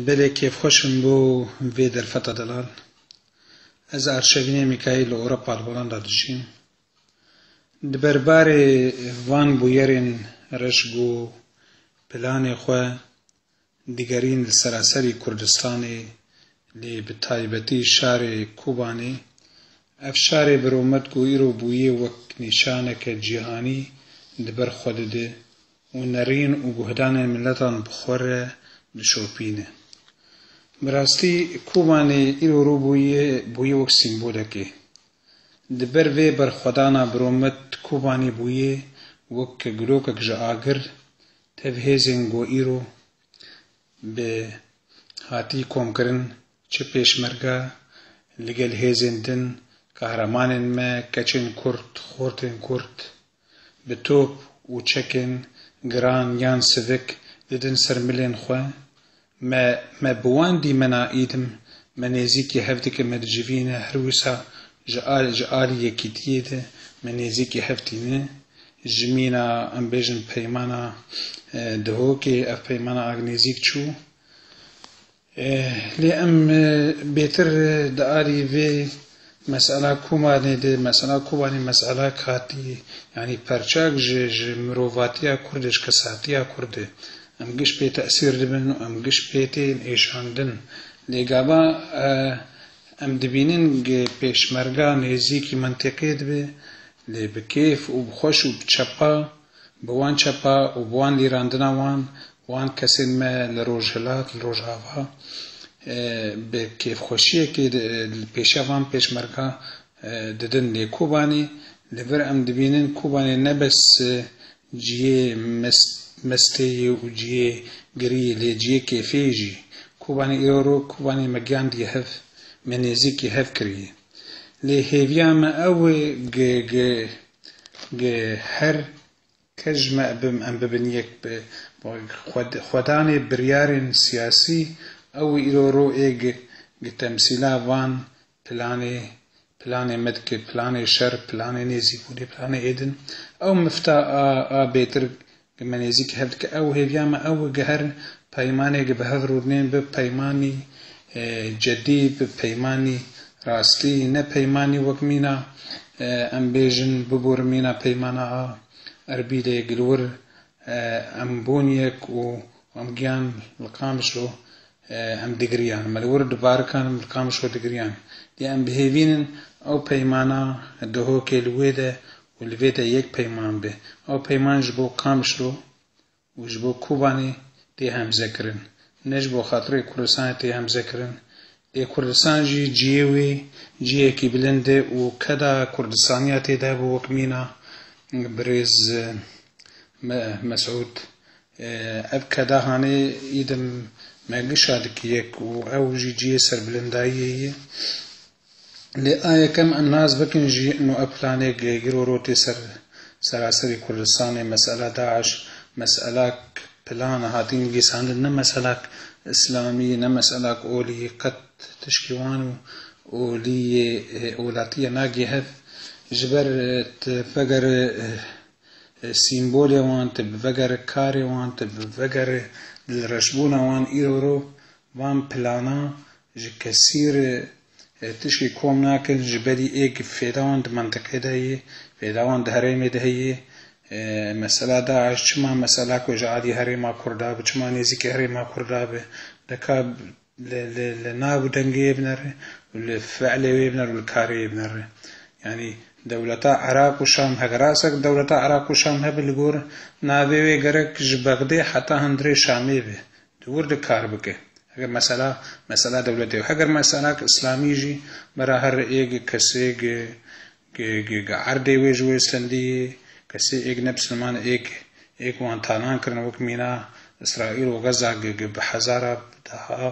Belê kêfxweş im bo vê derfeta delal. Ez Arşevînê Mîkaîl li Ewropa li Holanda dijîm. Di ber barê van bûyerên reş ku planê xwe digerîn li seraserî Kurdistanê lê bi taybetî şarê Kobanê, ev şarê bi romet ku îro bûye wek nîşaneke cîhanî di ber xwe dide û nerîn û guhdanên miletan bi xwe re dişopîne. Bi rastî Kobanê îro rû bûye bûye wek sîmbolekê. Di ber vê berxwedana biromît Kobanê bûye wek gulokek ji agir tev hêzên ku îro bi hatî komkirin çi pêşmerge li gel hêzên din, kahramanên me, keçên kurd, xortên kurd, bi top û çekên giran yan sivik didin ser milên xwe, me me bi wan dîmena îdim, me nêzîkî hevdike me dicivîne her wisa ji a ji alî yekîtiyê de me nêzîkî hev tîne, ji mîna em bêjin peymana Dihokê ev peymana ag nêzîk çû. Lê em bêtir di alî vê mesela Kobanê de, mesela Kobanê meselek hatî yanî perçek ji ji mirovatiya Kurd e, ji kesatiya Kurd e. Em giş pê tesîr dibin û em giş pê tên êşandin. Lê gava em dibînin ke pêşmerga nêzîkî mintiqê dibe lê bi kêf û bi xweş û bi çepa. Bi wan çepa û bi wan lîrandina wan, wan kesên me li Rojhilat, li Rojava bi kêfxweşiyekê li pêşiya van pêşmerga didin. Lê Kobanê li vir em dibînin Kobanê ne bes cihê mestê ye û cihê girî ye lê cihê kêfê ye jî. Kobanê îro ro Kobanê me giyandiye hev, me nêzîkî hev kiriye. Lê hêviya me ew e Gê her kes ji me bim em bibin yek bi xwedanê biryarên siyasî ew îro ro ê gi temsîla van planê planê me dike planê şer planê nêzîbûnê planê êdin ew mifta a bêtir Ke me nêzîkî hev dike ew hêviya me ew giherin peymanê ke bi hev rûdinên bi peymanî cedî, bi peymanî rastî ne peymanî wek mîna em bêjin biborin mîna peymana a Erbîlê gi li wir em bûn yek û em giyan li Qamişlo em digiriyan me li wir di barikan li Qamişlo digiriyan dê em bihêvînin ew peymana dihokê li wê de û li vê de yek peyman be, ew peyman ji bo Kamişlo û ji bo Kobanê tê hemzekirin, ne ji bo xatirê Kurdistanê tê hemzekirin, lê Kurdistan jî ciyê wê ciyekî bilind e û keda Kurdistaniya tê de hebe wek mîna birêz Mesûd ev keda hanê îdim me gişa dikî yek û ew jî ciyê serbilindayiyê ye. Lê a yekem em nas bikin jî no ev planêk lê îro rotê ser seraserî Kurdistanê mesela DAIŞ meselak plan hatî nivîsandin ne meselak îslamî ne meselak olî qet tişkî wan û olî yê welatîye nagêhd ji ber tu vegere sîmbolê wan tu vegere karê wan tu vegere dilreşbûna wan îro ro Van planan ji kesî re tişkî kom nakin ji berî êk fêdawan di mintiqê de ye, fêdawan di herêmê de heye. Mesela DAIŞ çima mesela ku ji aliyê herêma Kurda bi çima nêzîkî herêma Kurda bi dika li nav û dengê wê binere û li fielê wê binere û li karê wê binere. Yanî dewleta Iraq û Şam heke rast e ku dewleta Iraq û Şam hebe li gor navê wê gerek ji Bexdê heta hundirê Şamê be. Tu wir de kar bike. Heger mesela mesela dewletê yo, heger mesela ki islamî jî vera her êg kesê gi gi gi gi erdê wê ji wê sendî yê, kesê êg ne bisliman êg êg wan talan kirin wek mîna Îsraîl û Gaza gi gi bi hezara bi deha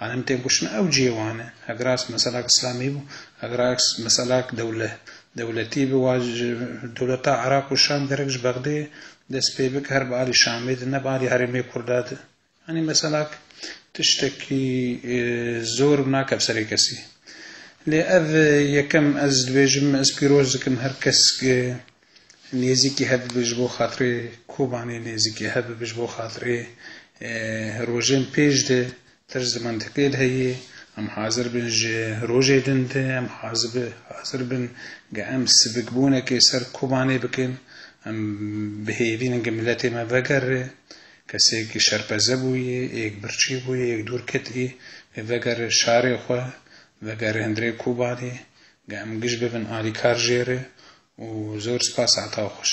anim tên kuştin ew cihê wan e. Hegera mesela ki islamî bû, hegera mesela ki dewle dewletî bi wa ji dewleta Iraq û Şam gerek ji Bexdê Dest pê bike her bi alî Şamê de ne bi alî herêmê Kurda de. Yanî mesela tiştekî zor bi nake bi serê kesî. Lê ev yekem ez dibêjim ez pîroz dikim her kes nêzîkî hebibe ji bo xatirê Kobanê nêzîkî hebibe ji bo xatirê rojên pêş de Tirş di mentiqê de heye, em hazir bin ji rojê din de em hazir bin ge em sivikbûnekê ser Kobanê bikin, em bihêvînin ge miletê me vegere, kesêk şerpeze bûye, êk birçî bûye, êk dûr ketî, ê vegere şarê xwe, vegere hundirê Kobanê, ge em giş bibin alîkar jê re û zor spas ata xweş.